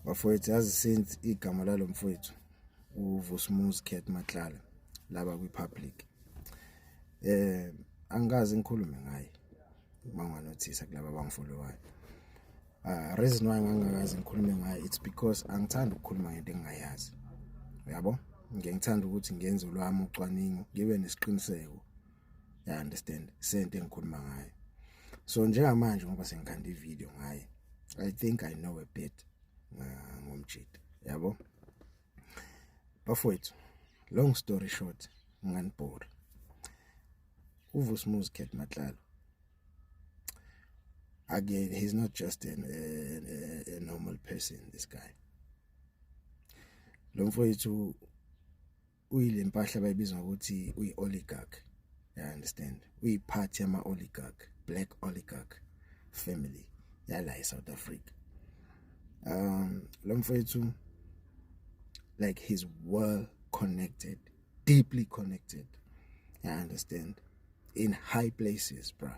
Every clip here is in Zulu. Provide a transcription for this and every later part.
bafowethu yazi since igama lalo mfowethu uVusmuzi Cat Matlala laba kwipublic eh angikaze ngikhulume ngaye banganothisa kulabo abangifollowayo uh reason why ngangakaze ngikhulume ngaye it's because angithanda ukukhuluma ngento engingayazi uyabo ngiyangithanda ukuthi ngenze lwami ucwaningo ngibe nesiqiniseko ya understand sente engikhuluma ngayo so njengamanje ngoba sengikhanda ivideo ngaye i think i know a bit ngomjita yabo bafowethu long story short nganibhora uVusmuzi Khet Matlalo again he's not just an, a, a, a normal person this guy lo mfowethu uyile mpahla bayibiza ngokuthi uyi oligarch you understand uyi party ama oligarch black oligarch family yala eSouth Africa um lo mfowethu like he's well connected deeply connected you understand in high places bruh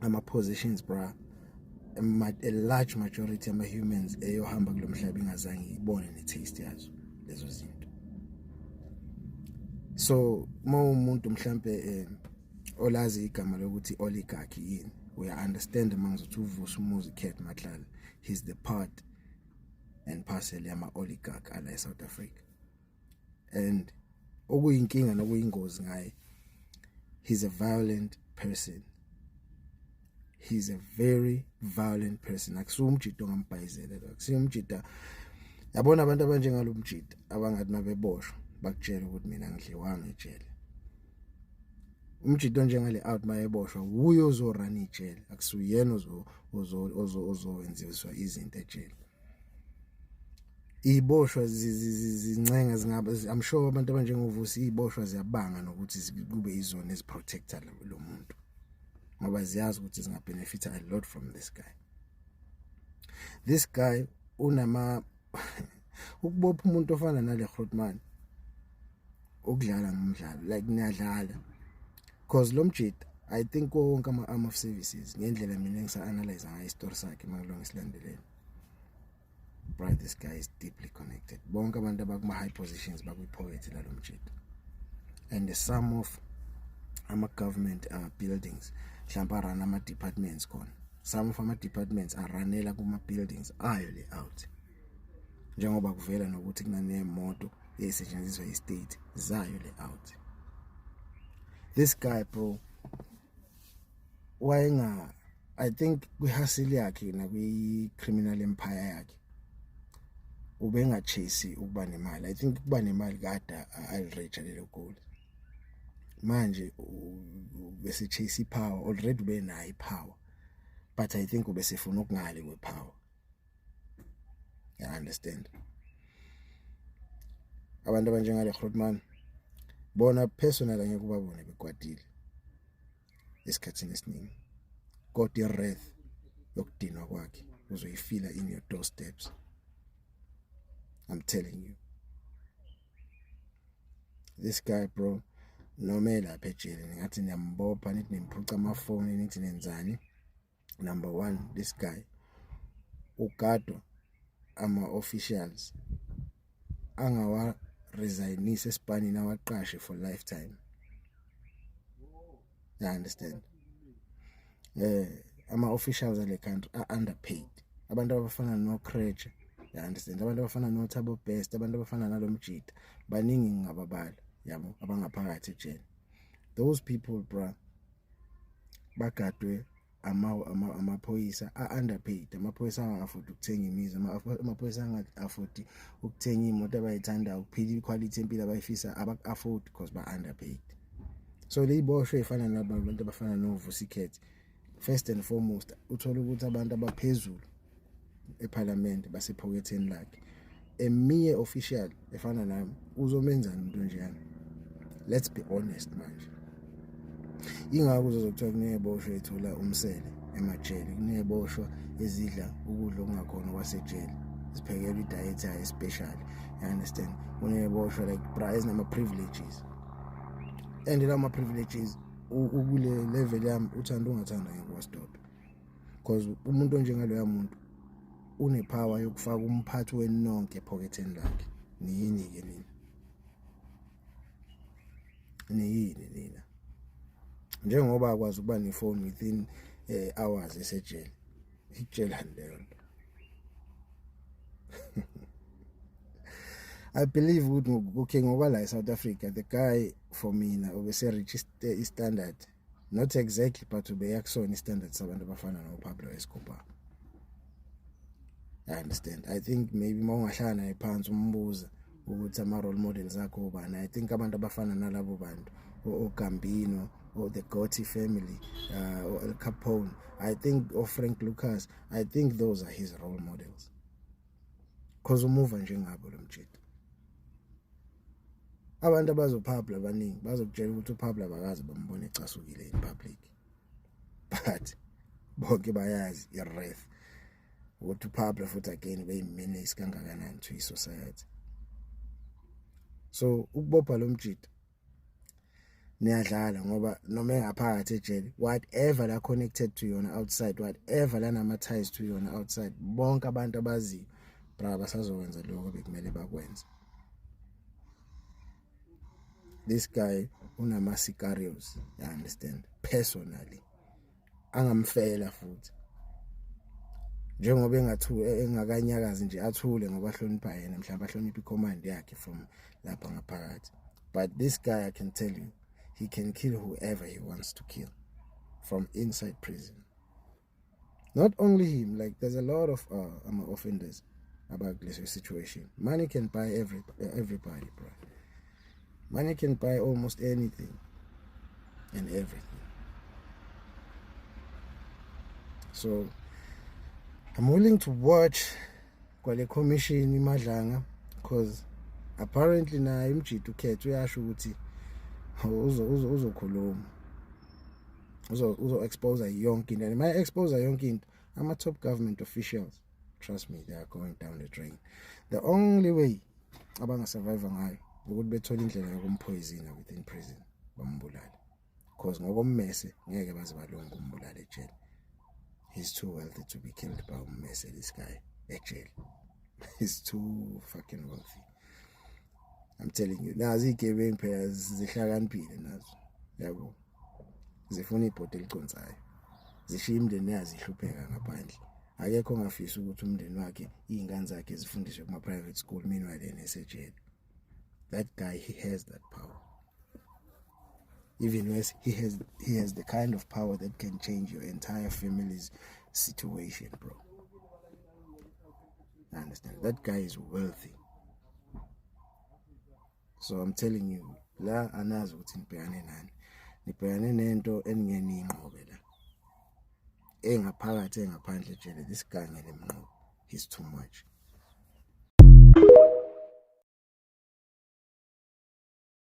ama positions bra a large majority ama humans eyohamba kulomhlaba ingazange ibone ne taste yazo lezo zinto so uma umuntu mhlambe eh, olazi igama lokuthi oligarchy yini uya understand mangizothi uvusa umuzi cat matlala he's the part and parcel yama oligarch ala eSouth Africa and okuyinkinga nokuyingozi ngaye he's a violent person he's a very violent person akusuka umjita ongambhayizela lo akusuka umjita yabona abantu abanjengalomjita abangathi mabeboshwa bakutshela ukuthi mina ngidliwanga ejele umjita onjengale out mayeboshwa wuye ozorana ijele akusuyena ozo ozo ozowenziwa izinto ejele iboshwa zincenge zingabe i'm sure abantu abanjengovusi iboshwa ziyabanga nokuthi kube izona eziprotector lo muntu ngoba ziyazi ukuthi zinga benefit a lot from this guy this guy unama ukubopha umuntu ofana nale Grootman ukudlala ngomdlalo like niyadlala because lo mjita i think wonke ama-arm of services ngendlela mina engisa-analyze ngayo isitori sakhe makulonga isilandeleni right this guy is deeply connected bonke abantu abakuma-high positions bakwi-poverty lalo mjita and the sum of ama-government uh, buildings mhlawumpe arun ama-departments khona some of ama-departments aranela kuma-buildings ayo le out njengoba kuvela nokuthi kunanemoto esetshenziswa istate zayo le out this guy bro wayenga i think kwihasili yakhe nakwi criminal empire yakhe ubengachase ukuba nemali i think ukuba nemali kada already lelo goal manje bese chase ipower already benayo ipower but i think ubesefuna ukungale kwepower ya understand abantu abanjengale Grootman bona personal ngeke ubabone bekwatile esikhathini esiningi kodwa ireth yokudinwa kwakhe uzoyifila in your doorsteps i'm telling you this guy bro noma elapha ejele ngathi niyambopha nithi nimphuca amafoni nithi nenzani number 1 this guy ugadwa ama officials angawa resignise esipanini awaqashe for lifetime you understand eh ama officials ale country are underpaid abantu abafana no Creche you understand abantu abafana no Thabo Best abantu abafana nalomjita baningi ngababala yabo abangaphakathi ejele those people bra bagadwe ama amaphoyisa ama a-underpaid amaphoyisa angaka-afford ukuthenga imizi amaphoyisa angaka-afford ukuthenga iy'moto abayithandayo ukuphila ikhwalithi empilo abayifisa abaku-afford because ba-underpaid so leyiboshwe ey'fana nabantu abafana novusikhethi first and foremost uthole ukuthi abantu abaphezulu eParliament basephoketheni lakhe a mere official efana nami uzomenzani umuntu njeyana let's be honest manje ingakho uzozokuthiwa kuneyeboshwa ethola umsele emajele kuneyeboshwa ezidla ukudla okungakhona kwasejele ziphekelwa idiet yayo especial you understand kuneyeboshwa like bra ezinama-privileges and lawo ma-privileges ukule level yami uthanda ungathanda ngeke wasdoda because umuntu onjengaloya muntu unepower yokufaka umphathi wenu nonke ephoketheni lakhe niyini-ke nina niyini nina njengoba akwazi ukuba nefoni within um hours esejele itshelani leyo nto I believe ukuthi okay ngokwala eSouth Africa the guy for mina obese reach istandard not exactly but ubeya kusona istandard sabantu abafana noPablo Escobar I understand I think maybe mawungahlala naye phansi umbuza ukuthi ama role models akho ubani I think abantu abafana nalabo bantu oGambino or the Gotti family uh, or El Capone I think or Frank Lucas I think those are his role models cause umuva njengabo lo mjita abantu abazophabla abaningi bazokutshela ukuthi uphabla bakazi bambone ecasukile in public but bonke bayazi iref ukuthi uphabla futhi again beyimenace kangakanani to i-society so ukubopha lo mjita niyadlala ngoba noma engaphakathi ejele whatever la connected to yona outside whatever la nama ties to yona outside bonke abantu abaziyo bra basazokwenza lokho bekumele bakwenze this guy unama sicarios you understand personally angamfela futhi njengoba engathu engakanyakazi nje athule ngoba hlonipha yena mhlawumbe ahloniphe icommand yakhe from lapha ngaphakathi but this guy i can tell you he can kill whoever he wants to kill from inside prison not only him like there's a lot of uh, ama offenders about this situation money can buy every everybody bro Money can buy almost anything and everything. So I'm willing to watch kwale commission imadlanga because apparently naye umjidi ukhethe uyasho ukuthi uzokhuluma uzo uzo expose yonke into and my expose yonke into ama top government officials trust me they are going down the drain the only way abangasurvive ngayo ukuthi bethole indlela yokumphoyizina within prison bambulale because ngokommese ngeke baze balunge umbulale ejele he's too wealthy to be killed by ummese this guy ejele he's too fucking wealthy I'm telling you nazi igebengu phela zihlakaniphile nazo yabo zifuna ibhodo eliconsayo zishiya imndeni yazi ihlupheka ngaphandle akekho ongafisa ukuthi umndeni wakhe izingane zakhe zifundiswe kuma private school meanwhile yena esejele that guy he has that power even worse he has he has the kind of power that can change your entire family's situation bro I understand. That guy is wealthy. So I'm telling you, la anazi ukuthi nibhekane nani. Nibhekane nento eningeni inqobe la. Engaphakathi engaphandle jele this guy ngeke mnqobe. He's too much.